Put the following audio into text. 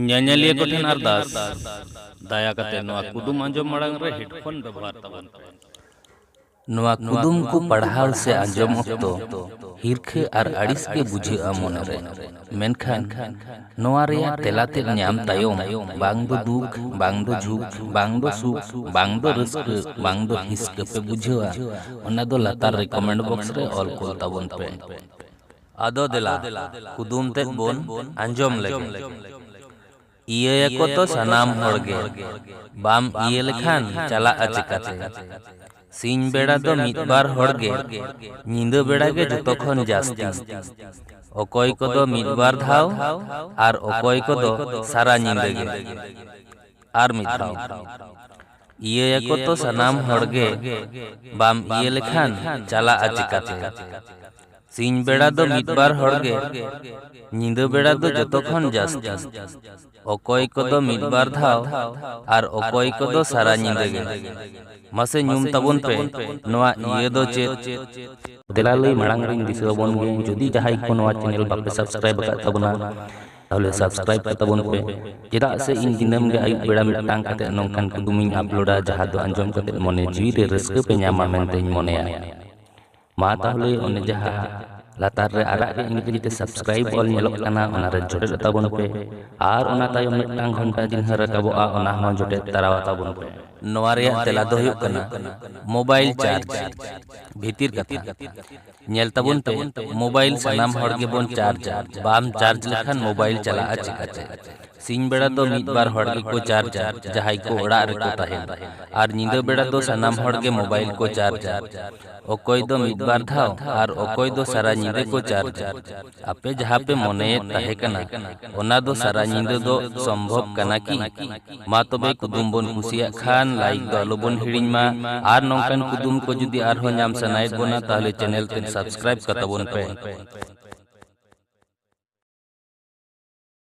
ᱧᱮᱧᱮᱞᱤᱭᱟᱹ ᱠᱚᱴᱷᱮᱱ ᱟᱨᱫᱟᱥ ᱫᱟᱭᱟ ᱠᱟᱛᱮ ᱱᱚᱣᱟ ᱠᱩᱫᱩᱢ ᱟᱸᱡᱚᱢ ᱢᱟᱲᱟᱝ ᱨᱮ ᱦᱮᱰᱯᱷᱳᱱ ᱵᱮᱵᱚᱦᱟᱨ ᱛᱟᱵᱚᱱ ᱯᱮ ᱱᱚᱣᱟ ᱠᱩᱫᱩᱢ ᱠᱚ ᱯᱟᱲᱦᱟᱣ ᱥᱮ ᱟᱸᱡᱚᱢ ᱚᱠᱛᱚ ᱦᱤᱨᱠᱷᱟᱹ ᱟᱨ ᱟᱹᱲᱤᱥ ᱜᱮ ᱵᱩᱡᱷᱟᱹᱜᱼᱟ ᱢᱚᱱᱮᱨᱮ ᱢᱮᱱᱠᱷᱟᱱ ᱱᱚᱣᱟ ᱨᱮᱭᱟᱜ ᱛᱮᱞᱟ ᱛᱮᱫ ᱧᱟᱢ ᱛᱟᱭᱚᱢ ᱵᱟᱝ ᱫᱚ ᱫᱩᱠ ᱵᱟᱝ ᱫᱚ ᱡᱷᱩᱠ ᱵᱟᱝ ᱫᱚ ᱥᱩᱠ ᱵᱟᱝ ᱫᱚ ᱨᱟᱹᱥᱠᱟᱹ ᱵᱟᱝ ᱫᱚ ᱦᱤᱥᱠᱟᱹ ᱯᱮ ᱵᱩᱡᱷᱟᱹᱣᱟ ᱚᱱᱟ ᱫᱚ ᱞᱟᱛᱟᱨ ᱨᱮ ᱠᱚᱢᱮᱱᱴ ᱵᱚᱠᱥ ᱨᱮ ᱚᱞ ᱠᱩᱞ ᱛᱟᱵᱚᱱ ᱯᱮ ᱟᱫᱚ ᱫᱮᱞᱟ ᱠᱩᱫᱩᱢ ᱛᱮᱫ ᱵᱚᱱ ᱟᱸᱡᱚᱢ ᱞᱮᱜᱮ᱾ ᱤᱭᱟᱹ ᱭᱟᱠᱚ ᱛᱚ ᱥᱟᱱᱟᱢ ᱦᱚᱲ ᱜᱮ᱾ ᱵᱟᱢ ᱤᱭᱟᱹ ᱞᱮᱠᱷᱟᱱ ᱪᱟᱞᱟᱜᱼᱟ ᱪᱮᱠᱟᱛᱮ᱾ ᱥᱤᱧ ᱵᱮᱲᱟ ᱫᱚ ᱢᱤᱫ ᱵᱟᱨ ᱦᱚᱲ ᱜᱮ, ᱧᱤᱫᱟᱹ ᱵᱮᱲᱟ ᱜᱮ ᱡᱚᱛᱚ ᱠᱷᱚᱱ ᱡᱟᱹᱥᱛᱤ᱾ ᱚᱠᱚᱭ ᱠᱚᱫᱚ ᱢᱤᱫ ᱵᱟᱨ ᱫᱷᱟᱣ ᱟᱨ ᱚᱠᱚᱭ ᱠᱚᱫᱚ ᱥᱟᱨᱟ ᱧᱤᱫᱟᱹ ᱜᱮ᱾ ᱟᱨ ᱢᱤᱫ ᱫᱷᱟᱣ᱾ ᱤᱭᱟᱹ ᱭᱟᱠᱚ ᱛᱚ ᱥᱟᱱᱟᱢ ᱦᱚᱲ ᱜᱮ᱾ ᱵᱟᱢ ᱤᱭᱟᱹ ᱞᱮᱠᱷᱟᱱ ᱪᱟᱞᱟᱜᱼᱟ ᱪᱮᱠᱟᱛᱮ᱾ ᱥᱤᱧ ᱵᱮᱲᱟ ᱫᱚ ᱢᱤᱫ ᱵᱟᱨ ᱦᱚᱲ ᱜᱮ, ᱧᱤᱫᱟᱹ ᱵᱮᱲᱟ ᱫᱚ ᱡᱚᱛᱚ ᱠᱷᱚᱱ ᱡᱟᱹᱥᱛᱤ᱾ ᱚᱠᱚᱭ ᱠᱚᱫᱚ ᱢᱤᱫ ᱵᱟᱨ ᱫᱷᱟᱣ ᱟᱨ ᱚᱠᱚᱭ ᱠᱚᱫᱚ ᱥᱟᱨᱟ ᱧᱤᱫᱟᱹ ᱜᱮ᱾ ᱢᱟᱥᱮ ᱧᱩᱢ ᱛᱟᱵᱚᱱ ᱯᱮ ᱱᱚᱣᱟ ᱤᱭᱟᱹ ᱫᱚ ᱪᱮᱫ? ᱫᱮᱞᱟ ᱞᱟᱹᱭ ᱢᱟᱲᱟᱝ ᱨᱮᱧ ᱫᱤᱥᱟᱹ ᱟᱵᱚᱱ ᱜᱮ ᱡᱩᱫᱤ ᱡᱟᱦᱟᱸᱭ ᱠᱚ ᱱᱚᱣᱟ ᱪᱮᱱᱮᱞ ᱵᱟᱯᱮ ᱥᱟᱵᱥᱠᱨᱟᱭᱤᱵᱽ ᱟᱠᱟᱫ ᱛᱟᱵᱚᱱᱟ ᱛᱟᱦᱚᱞᱮ ᱥᱟᱵᱥᱠᱨᱟᱭᱤᱵᱽ ᱠᱟᱜ ᱛᱟᱵᱚᱱ ᱯᱮ ᱪᱮᱫᱟᱜ ᱥᱮ ᱤᱧ ᱫᱤᱱᱟᱹᱢ ᱜᱮ ᱟᱹᱭᱩᱵ ᱵᱮᱲᱟ ᱢᱤᱫᱴᱟᱝ ᱠᱟᱛᱮ ᱱᱚᱝᱠᱟᱱ ᱠᱩᱫᱩᱢᱤᱧ ᱟᱯᱞᱳᱰᱟ ᱡᱟᱦᱟᱸ ᱫᱚ ᱟᱸᱡᱚᱢ ᱠᱟᱛᱮ ᱢᱚᱱᱮ ᱡᱤᱣᱤ ᱨᱮ ᱨᱟᱹᱥᱠᱟᱹ ᱯᱮ ᱧᱟᱢᱟ ᱢᱮᱱᱛᱮᱧ ᱢᱚᱱᱮᱭᱟ᱾ ᱢᱟ ᱛᱟᱦᱚᱞᱮ ᱚᱱᱮ ᱡᱟᱦᱟᱸ ᱞᱟᱛᱟᱨ ᱨᱮ ᱟᱨᱟᱜ ᱜᱮ ᱤᱝᱨᱮᱡᱤ ᱛᱮ ᱥᱟᱵᱥᱠᱨᱟᱭᱤᱵ ᱚᱞ ᱧᱮᱞᱚᱜ ᱠᱟᱱᱟ ᱚᱱᱟ ᱨᱮ ᱡᱚᱴᱮᱫ ᱛᱟᱵᱚᱱ ᱯᱮ ᱟᱨ ᱚᱱᱟ ᱛᱟᱭᱚᱢ ᱢᱤᱫᱴᱟᱝ ᱜᱷᱚᱱᱴᱟ ᱪᱤᱱᱦᱟᱹ ᱨᱟᱠᱟᱵᱚᱜᱼᱟ ᱚᱱᱟ ᱦᱚᱸ ᱡᱚᱴᱮᱫ ᱛᱟᱨᱟᱣ ᱛᱟᱵᱚᱱ ᱯᱮ ᱱᱚᱣᱟ ᱨᱮᱭᱟᱜ ᱛᱮᱞᱟ ᱫᱚ ᱦᱩᱭᱩᱜ ᱠᱟᱱᱟ ᱢᱳᱵᱟᱭᱤᱞ ᱪᱟᱨᱡᱽ ᱵᱷᱤᱛᱤᱨ ᱠᱟᱛᱷᱟ ᱧᱮᱞ ᱛᱟᱵᱚᱱ ᱯᱮ ᱢᱳᱵᱟᱭᱤᱞ ᱥᱟᱱᱟᱢ ᱦᱚᱲ ᱜᱮᱵᱚᱱ ᱪᱟᱨᱡᱟ ᱵᱟᱢ ᱪᱟᱨᱡᱽ ᱞᱮᱠᱷᱟᱱ ᱢᱳᱵᱟᱭᱤᱞ ᱪᱟᱞᱟᱜᱼᱟ ᱪᱤᱠᱟᱹᱛᱮ ᱥᱤᱧ ᱵᱮᱲᱟ ᱫᱚ ᱢᱤᱫ ᱵᱟᱨ ᱦᱚᱲ ᱜᱮᱠᱚ ᱪᱟᱨᱡᱟ ᱡᱟᱦᱟᱸᱭ ᱠᱚ ᱚᱲᱟᱜ ᱨᱮᱠᱚ ᱛᱟᱦᱮᱱᱟ ᱟᱨ ᱧᱤᱫᱟᱹ ᱵᱮᱲᱟ ᱫᱚ ᱥᱟᱱᱟᱢ ᱦᱚᱲ ᱜᱮ ᱢᱳᱵᱟᱭᱤᱞ ᱠᱚ ᱪᱟᱨᱡᱟ ᱚᱠᱚᱭ ᱫᱚ ᱢᱤᱫ ᱵᱟᱨ ᱫᱷᱟᱣ ᱟᱨ ᱚᱠᱚᱭ ᱫᱚ ᱥᱟᱨᱟ ᱧᱤᱫᱟᱹ ᱠᱚ ᱪᱟᱨᱡᱟ ᱟᱯᱮ ᱡᱟᱦᱟᱸ ᱯᱮ ᱢᱚᱱᱮᱭᱮᱫ ᱛᱟᱦᱮᱸ ᱠᱟᱱᱟ ᱚᱱᱟ ᱫᱚ ᱥᱟᱨᱟ ᱧᱤᱫᱟᱹ ᱫᱚ ᱥᱚᱢᱵᱷᱚᱵ ᱠᱟᱱᱟ ᱠᱤ ᱢᱟ ᱛᱚᱵᱮ ᱠᱩᱫᱩᱢ ᱵᱚᱱ ᱠᱩᱥᱤᱭᱟᱜ ᱠᱷᱟᱱ ᱞᱟᱭᱤᱠ ᱫᱚ ᱟᱞᱚ ᱵᱚᱱ ᱦᱤᱲᱤᱧ ᱢᱟ ᱟᱨ ᱱᱚᱝᱠᱟᱱ ᱠᱩᱫᱩᱢ ᱠᱚ ᱡᱩᱫᱤ ᱟᱨᱦᱚᱸ ᱧᱟᱢ ᱥᱟᱱᱟᱭᱮᱫ ᱵᱚᱱᱟ ᱛᱟᱦᱚᱞᱮ ᱪᱮᱱᱮᱞ ᱛᱮ ᱥᱟᱵᱥᱠᱨᱟᱭᱤᱵ ᱠᱟᱛᱟᱵᱚᱱ ᱯᱮ